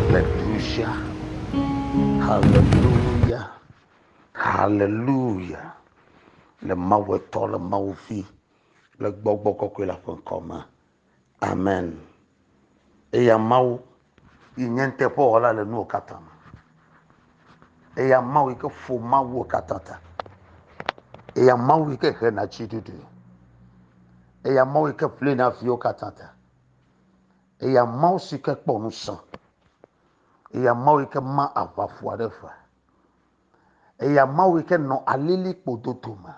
Haleluya, haleluya, haleluya. Le Mawu etɔ, le Mawu vi, le gbɔgbɔ kɔkɔe la ƒe ŋkɔ me. Amen. Eya Mawu yi nye nuteƒewɔla le nuwo katã me. Eya Mawu yi ke ƒo Mawuwo katã ta. Eya Mawu yi ke hena tsiɖuɖu. Eya Mawu yi ke ƒlena viwo katã ta. Eya Mawu si ke kpɔ ŋusẽ. Eya Mawu yi ke ma aʋaƒua ɖe ƒe. Eya Mawu yi ke nɔ alilikpo dodo me.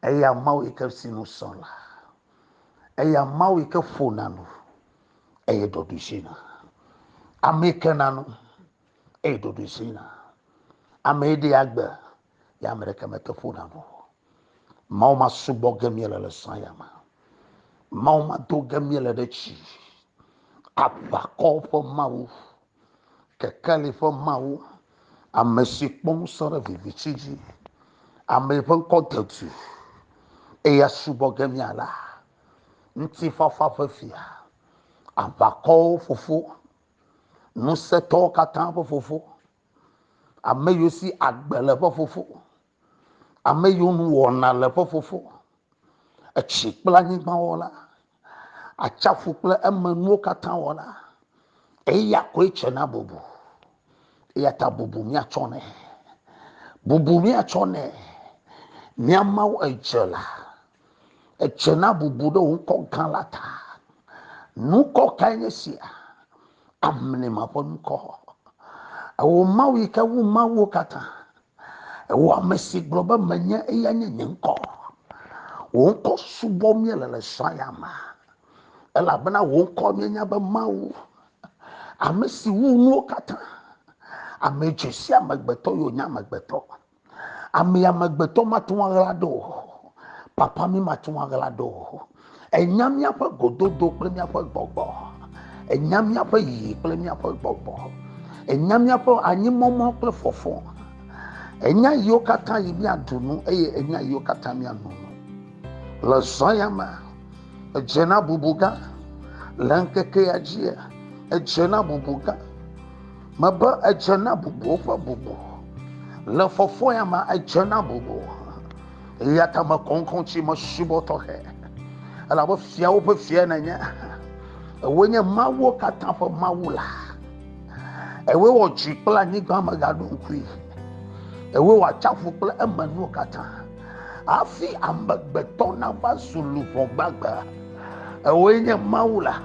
Eya Mawu yi ke si nu sɔ la. Eya Mawu yi ke ƒona nu eye ɖoɖo zina. Ame yi ke na nu eye ɖoɖo zina. Ame yi ɖe agbe ya ame ɖeke mete ƒona nu o mawo masubɔ ge míele le zã ya me mawo mado ge míele ɖe tsi aʋakɔwo ƒe mawu kekeli ƒe mawu ame si kpɔ ŋusẽ ɖe vivitsi dzi ame ƒe ŋkɔ de du eya subɔ ge mía la ŋutifafa ƒe fia aʋakɔwo fofo ŋusẽtɔwo katã ƒe fofo Ame yiwo si agbe le eƒe fofo. Ame yiwo nu wɔna le eƒe fofo. Etsi kple anyigba wɔla. Atsaƒu kple emenuwo katã wɔla. Eya koe tsena bubu. Eya ta bubu míatsɔ nɛ. Bubu míatsɔ nɛ. Mía Mawu edzela. Edze na bubu ɖe wò ŋkɔ gã la ta. Nukɔ kae nye sia? Amlima ƒe nukɔ. Ewo Mawu yi ke wu Mawuwo katã. Ewo ame si gblɔ be menye eya nye nye ŋkɔ. Wò ŋkɔ subɔ míele le srɔ̃ ya me. Elabena wò ŋkɔ míenya be Mawu, ame si wu nuwo katã. Ame dzesi amegbetɔ yio nye amegbetɔ. Ame amegbetɔ mate ŋu aɣla ɖo o. Papa mi mate ŋu aɣla ɖo o. Ènya míaƒe gododo kple míaƒe gbɔgbɔ. Ènya míaƒe yiyi kple míaƒe gbɔgbɔ. Ènya míaƒe anyimɔmɔ kple fɔfɔ. Ènya yiwo katã yi míaɖu nu eye ènya yiwo katã míanu nu. Le zɔ ya me, edze na bubu gã. Le ŋkeke ya dzi, edze na bubu gã. Mebe edze na bubuwo ƒe bubu. Le fɔfɔya ma, edze na bubu. Eya ta mekɔŋkɔ tsi mesubɔ tɔxɛ. Elabe fiawo ƒe fia nenye. Ewoe nye mawuwo katã ƒe mawu la. Ewoe wɔ dzi kple anyigba megaɖo ŋkui. Ewoe wɔ atsiaƒu kple emenuwo katã. hafi amegbetɔ nava zu luʋɔ gbagbe. Ewoe nye Mawu la.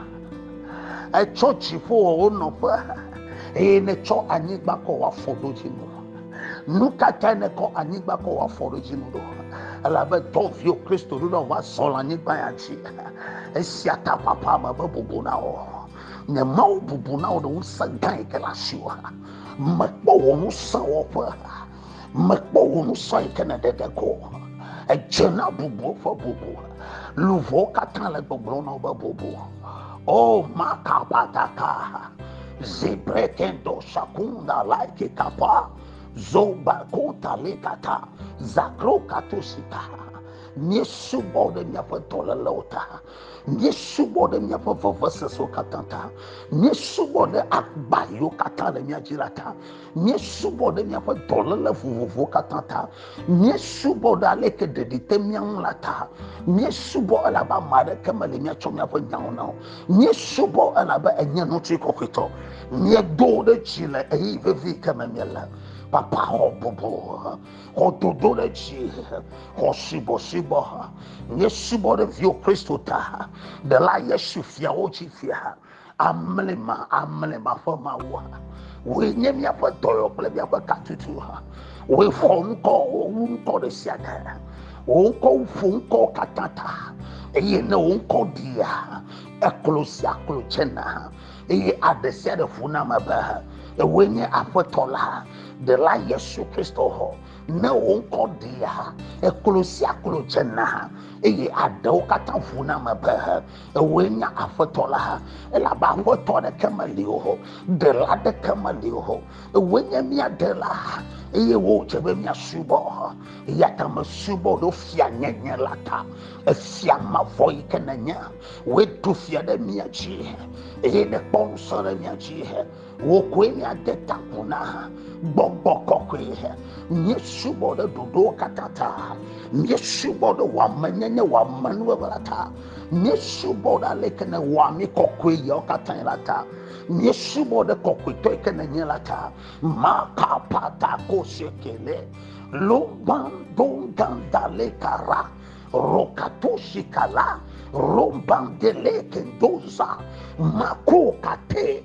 Etsɔ dziƒo wɔ wo nɔƒe eye netsɔ anyigba kɔ wɔ afɔɖodzinu. Nu ka tae nekɔ anyigba kɔ wɔ afɔɖodzinu ɖo? Elabe tɔviwo Kristo ɖoɖɔ va zɔ le anyigba ya dzi. Esia ta papa me be bubu na wo. Nye Mawu bubu na wo ɖe ŋusẽ gã yi ke le asiwò. Mekpɔ wò ŋusẽ wɔƒe. mekpɔ wò nu sɔ yi ke nèɖe ɖe ko edze na bubuwo ƒe bubu luʋɔwo katã le gbɔgblɔ na woƒe bubu o makapataka zibrekendo sakunda laiki kapa zobako talikata zakro katosika míesubɔ ɖe míaƒe dɔlélewo ta míesubɔ ɖe míaƒe vevesesewo katã ta míesubɔ ɖe agba yiwo katã le mía dzi la ta Míesubɔ ɖe míaƒe dɔléle vovovowo katã ta. Míesubɔ ɖe aleke ɖeɖi te mía ŋu la ta. Míesubɔ elabe ame aɖeke meli míatsɔ míaƒe nyawo na o. Míesubɔ elabe enye ŋutri kɔkɔetɔ. Míedo ɖe dzi le ɣeyiɣi vevi ke me míele. Papa xɔ bubu, xɔ dodo ɖe dzi, xɔ subɔsubɔ. Míesubɔ ɖe viwò Kristo ta, ɖela Yesu fiawo dzi fia. Amlima, amlima ƒe Mawua, wòe nye míaƒe dɔyɔ kple míaƒe katutu ha. Wòe xɔ ŋkɔ wu ŋkɔ ɖe sia ɖe. Wò ŋkɔ ƒo ŋkɔ katã ta. Eye ne wò ŋkɔ ɖia, eklo sia klo tsena. Eye aɖe sia ɖe ƒo na me be, Ewòe nye Aƒetɔ la, ɖela Yesu Kristo hɔ. Ne wò ŋkɔ ɖia, eklo sia klo tsena. Eye aɖewo katã ƒo na me be, ewòe nye aƒetɔ la elabe aƒetɔ ɖeke meli o ɖela ɖeke meli o ewòe nye mía ɖela eye wò dze be míasubɔ eya ta mesubɔ ɖo fia nyenye la ta efia mavɔ yi ke nènye wòe ɖo fia ɖe mía dzi eye nèkpɔ ŋusẽ ɖe mía dzi wò koe míade ta ƒo na gbɔgbɔ kɔkɔe míesubɔ ɖe ɖoɖowo katã ta míesubɔ ɖe wɔamenyenye wɔamenuwɔwɔ la ta míesubɔ ɖe aleke ne wɔa mí kɔkɔe yewo katã la ta míesubɔ ɖe kɔkɔetɔ yi ke nenye la ta makapata kosekele lobandondandalekara rokatosikala robandelekendonza makokate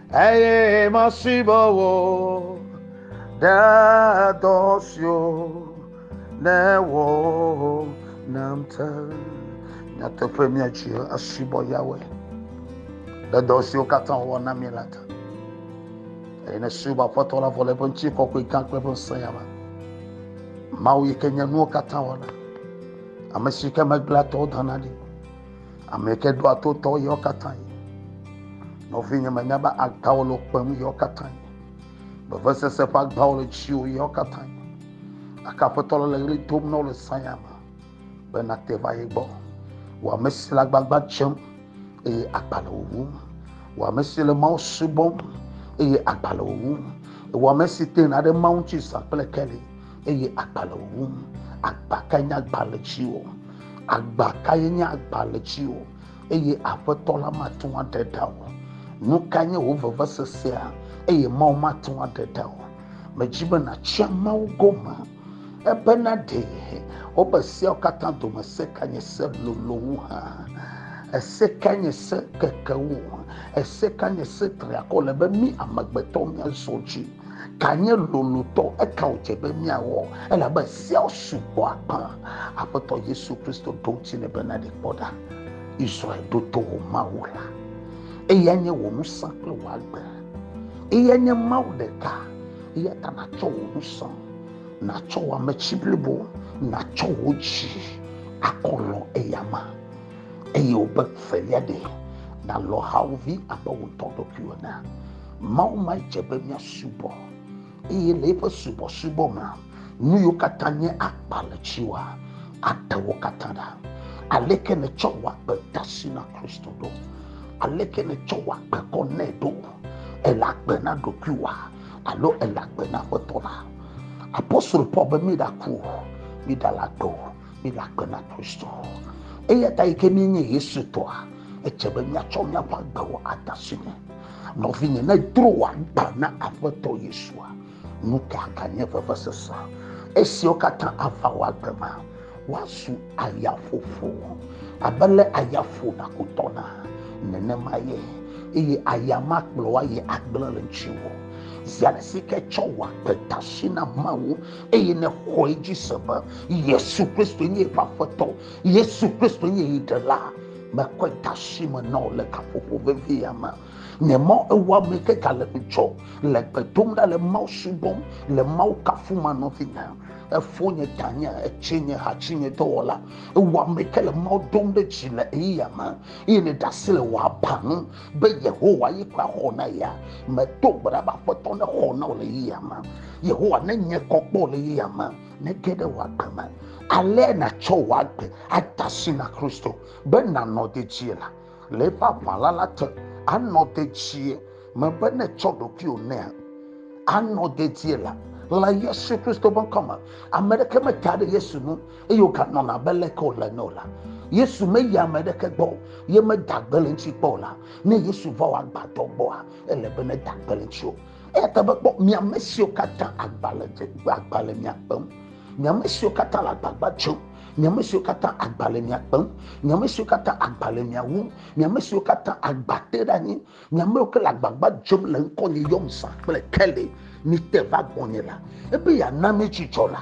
Eye masubɔ wò ɖe dɔ siwo nèwɔ nam te. Nyateƒe míatsi asubɔ Yawe ɖe dɔ siwo katã wòwɔ na mí la te. Eye nèsubɔ Aƒetɔ la vɔ le eƒe ŋuti kɔkɔe gã kple eƒe ŋusẽ ya me. Mawu yi ke nye nuwo katã wɔla, ame si ke megbea tɔwo dana ɖi. Ame ke do ato tɔ yɔ katã yi. Nɔvi nye menya be agbawo le kpem yɔ katã yi. Beve sese ƒe agbawo le dziwo yɔ katã yi. Aka aƒetɔ le ɣli dom na wo le sanya me be nate va ye gbɔ. Wò ame si le agbagba dzem eye agba le wò ŋu. Wò ame si le Mawu subɔm eye agba le wò ŋu. Wò ame si tena ɖe Mawu ŋuti zã kple keli. eye agba le wo ŋu. Agba kae nye agba le dziwò? Agba kae nye agba le dziwò? Eye Aƒetɔ la mate ŋu aɖe ɖa o. Nu kae nye wò vevesesea? Eye Mawu mate ŋu aɖe ɖa o. Medzi be nàtsyɔ Mawu gome ebena ɖe wobe seawo katã dome se ka nye se lolo wu hã? Ese ka nye se keke wu? Ese ka nye se triakɔ le be mí amegbetɔwo míazɔ dzi? Ka nye lolotɔ? Eka wòdze be míawɔ? Elabe seawo sugbɔ akpa. Aƒetɔ Yesu Kristo ɖo ŋuti nɛ bena, Ɖe kpɔ ɖa, Israel ɖo to wò Mawu la, eyae nye wò ŋusẽ kple wò agbe. Eyae nye Mawu ɖeka, eya ta nàtsɔ wò ŋusẽ, nàtsɔ wò ametsi blibo, nàtsɔ wò dzi akɔlɔ eyama. Eye wòbe, Velia ɖe, nàlɔ hawòvi abe wò ŋutɔ ɖokui ene. Mawu ma dze be míasubɔ eye le eƒe subɔsubɔ me nu yiwo katã nye akpa le dziwòa ate wo katã ɖa. Aleke nètsɔ wò agbe de asi na Kristo ɖo? Aleke nètsɔ wò agbe kɔ nɛ ɖo? Èle agbe na ɖokuiwòa alo èle agbe na Aƒetɔ la? Apostolo Paul be míɖaku o, míɖale agbe o, míle agbe na Kristo. Eya ta yi ke míenye Yesu tɔa, edze be míatsɔ míaƒe agbewo ade asi nɛ. Nɔvinye, ne dro wòagbã na Aƒetɔ Yesua, nu ka ganye vevesese? Esiwo katã ava wò agbe ma, woazu ayaƒoƒo. Abe le aya ƒona kutɔna nenema ye, eye aya ma kplɔ wa yi agblẽ le ŋutiwò. Zi ale si ke tsɔ wɔ akpedasi na Mawu, eye nèxɔe dzi se be Yesu Kristo nye eƒe Aƒetɔ, Yesu Kristo nye yi Ɖela. mekɔe de asi me na wò le gaƒoƒo vevi ya me nye mɔ ewɔ ame ke gale ŋutsɔ le gbe dom ɖa le mawu subɔm le mawu kafu ma nɔvi na efo nye tanye etsi nye hatsi nye dɔwɔla ewɔ ame ke le mawu dom ɖe dzi le eyi ya me eye ne ɖe asi le wɔ aba nu be yehowa yi kɔ axɔ na ya meto gbe ɖa be aƒetɔ ne xɔ na wò le yi ya me yehowa ne nye kɔ kpɔ le yi ya me nege ɖe wò agbe me. Ale nàtsɔ wò agbe ada asi na Kristo be nànɔ dedie la, le eƒe aʋala la te. Anɔ dedie mebe nètsɔ ɖokuiwò nɛa? Anɔ dedie la, le Yesu Kristo ƒe ŋkɔ me. Ame ɖeke meta ɖe Yesu nu eye wòganɔna abe leke wòle ene o la, Yesu meyi ame ɖeke gbɔ o, ye meda gbe le eŋuti kpɔ o la, ne Yesu va wò agbadɔ gbɔa, ele be neda gbe le eŋuti o. Eya ta mekpɔ miame siwo katã agbalẽ dze agbalẽ mia kpem, miame siwo katã le agbagba dzem, miame siwo katã agbalẽ mia kpem, miame siwo katã agbalẽ mia wum, miame siwo katã agba te ɖe anyi, miame siwo ke le agbagba dzem le ŋkɔ nye yɔm sa kple kele, mite va gbɔnye la, ebe yeana mi dzidzɔ la.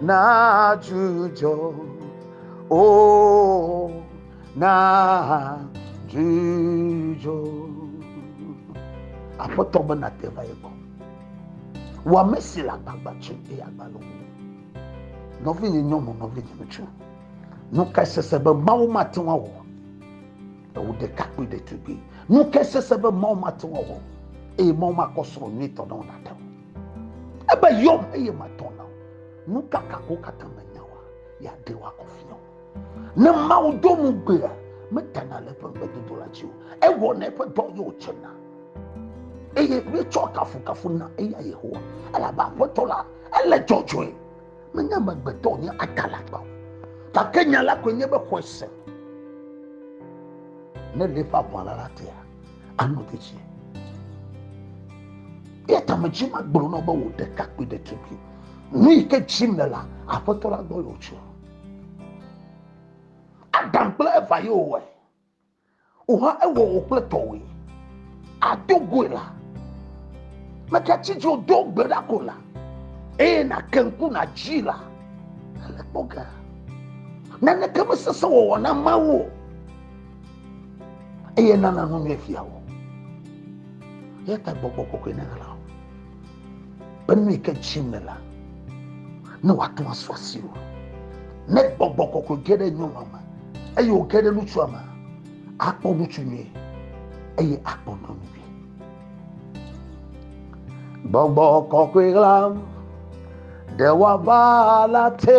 na dzudzɔ o na dzudzɔ aƒetɔ be nate va ye gbɔ wɔ ame si le agbagba tso eye agbalẽ wu nɔvinye nyɔnu nɔvinye ŋutsu nu ka sese be mawu mate ŋu awɔ ewu ɖekakpui ɖetugbui nu ka sese be mawu mate ŋu awɔ eye mawu makɔ srɔ̃ nyuitɔ na wo nate ŋu Ebe yɔm eye matɔ na wo. Nu ka kako katã menya wa, ya ɖe wakɔ fia wo. Ne Mawu do nu gbea, metana le eƒe ŋugbedodo la dzi o. Ewɔna eƒe dɔ ye wòtsena. Eye míetsɔ kafukafu na eya Yehowa, elabe Aƒetɔ la, ele dzɔdzɔe. Menye amegbetɔ wònye adalagba o. Gake nya la koe nye be xɔe sẽ. Ne le eƒe aʋala la tea. anɔ dedie. Eya ta me dzi ma gblɔ na be wò ɖekakpui ɖetugbui. Nu yi ke dzim le la, aƒetɔ la gbɔ yòtso. Adam kple Eva ye wòwɔe. Wòhã ewɔ wò kple tɔwòe. Ado goe la. Megatsi dzo do gbe ɖa ko la. Eye nake ŋku nadzi la. Ele kpɔ ga. Naneke mesese wɔwɔ na Mawu o. eye nana nu nyuie fia wò. Eya ta gbɔgbɔ kɔkɔe nana la wò. Be nu yi ke dzi me la, ne wòate ŋu asu asi wò. Ne gbɔgbɔ kɔkɔe ge ɖe nyɔnua me eye wòge ɖe ŋutsua me, akpɔ ŋutsu nyuie eye akpɔ nyɔnu nyuie. Gbɔgbɔ kɔkɔe ɣlam ɖe wòava la te.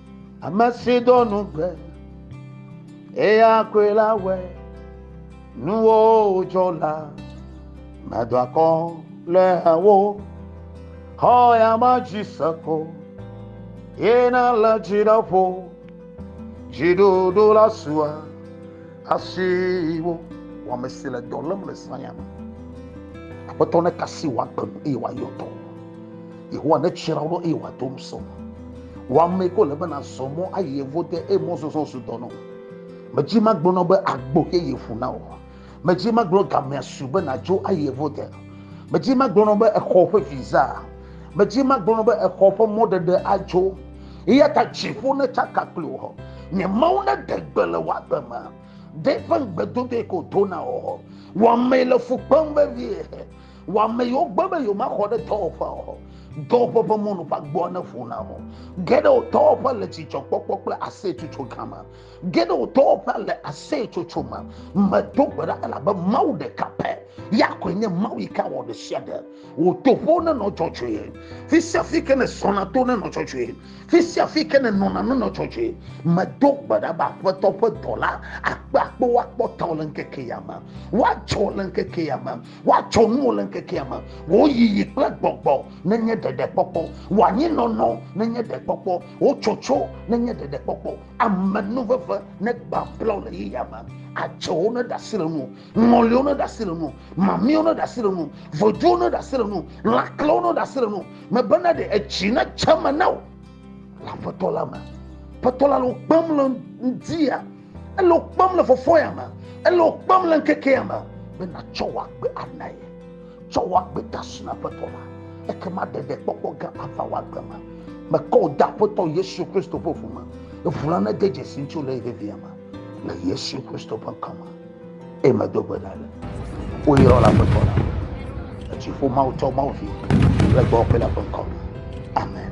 Ame si do nugbe, eya koe la wɔe. Nuwo dzɔ la, medo akɔ le wo. Xɔ ya ma dzi se ko, ye na le dziɖeƒo. Dziɖuɖu la sua. Asiwo wɔame si le dɔ lém le saya me. Aƒetɔ ne kasi wòagbe nu eye wòayɔ dɔ. Yehowa ne tsra wo ɖo eye wòado ŋusẽ. Wɔame ko le be nazɔ mɔ ayi yevo de eye mɔzɔzɔ zu dɔ nɔ. Medzi magblɔ na be agbo yeye ƒu na wò. Medzi magblɔ gamea su be nadzo ayi yevo de. Medzi magblɔ na be exɔ ƒe visa. Medzi magblɔ na be exɔ ƒe mɔɖeɖe adzo. eya ta dziƒo ne tsaka kpli wò nye mawu ne de gbe le wagbe me de ƒe ŋugbedodoe ko do na wò wɔmee le fu kpem vevie wɔame yewo gbe be yewomaxɔ ɖe dɔwɔƒea o dɔwɔƒe ƒe mɔnu ƒe agbɔa ne ƒo na o geɖe wo dɔwɔƒe le dzidzɔkpɔkpɔ kple aseyetsotso gama geɖe wo dɔwɔƒe le aseyetsotso me medo gbe ɖa elabe mawu ɖeka pɛ ya koe nye mawu yi ke awɔ ɖe sia ɖe Wò toƒo nenɔ dzɔdzɔe. Fi sia fi ke nèzɔna to nenɔ dzɔdzɔe. Fi sia fi ke nènɔna nenɔ dzɔdzɔe. Medo gbe ɖa be Aƒetɔ ƒe dɔla akpe akpewo akpɔ tawò le ŋkeke ya me. Woadzɔ le ŋkeke ya me. Woadzɔ nuwò le ŋkeke ya me. Wò yiyi kple gbɔgbɔ nenye ɖeɖekpɔkpɔ. Wò anyinɔnɔ nenye ɖekpɔkpɔ. Wò tsotso nenye ɖeɖekpɔkpɔ. Amenuveve negbã blɔ le ɣeya me. Adzewo neɖe asi le nuwò. ŋɔliwo ne ɖe asi le nu mamiwo ne ɖe asi le nu voduwo ne ɖe asi le nu lãklewo ne ɖe asi le nu mebena ɖe etsi ne tse me na o le aƒetɔ la me aƒetɔ la le wo kpem le ŋdi ya ele wo kpem le fɔfɔ ya me ele wo kpem le ŋkeke ya me be natsɔ wɔ agbe ana ye tsɔ wɔ agbe da si na aƒetɔ la ekema ɖeɖe kpɔkpɔ gã ava wɔ agbe me mekɔ wò da aƒetɔ yesu kristo ƒe ʋu me eʋu la nede dzesi ŋuti le ye vevia me le yesu kristo ƒe ŋkɔ me Eye medo gbe ɖa be, woyrɔ le Aƒetɔ la, le dziƒo Mawu tɔ Mawu vi kple gbɔwɔ kple la ƒe ŋkɔ me. Amen.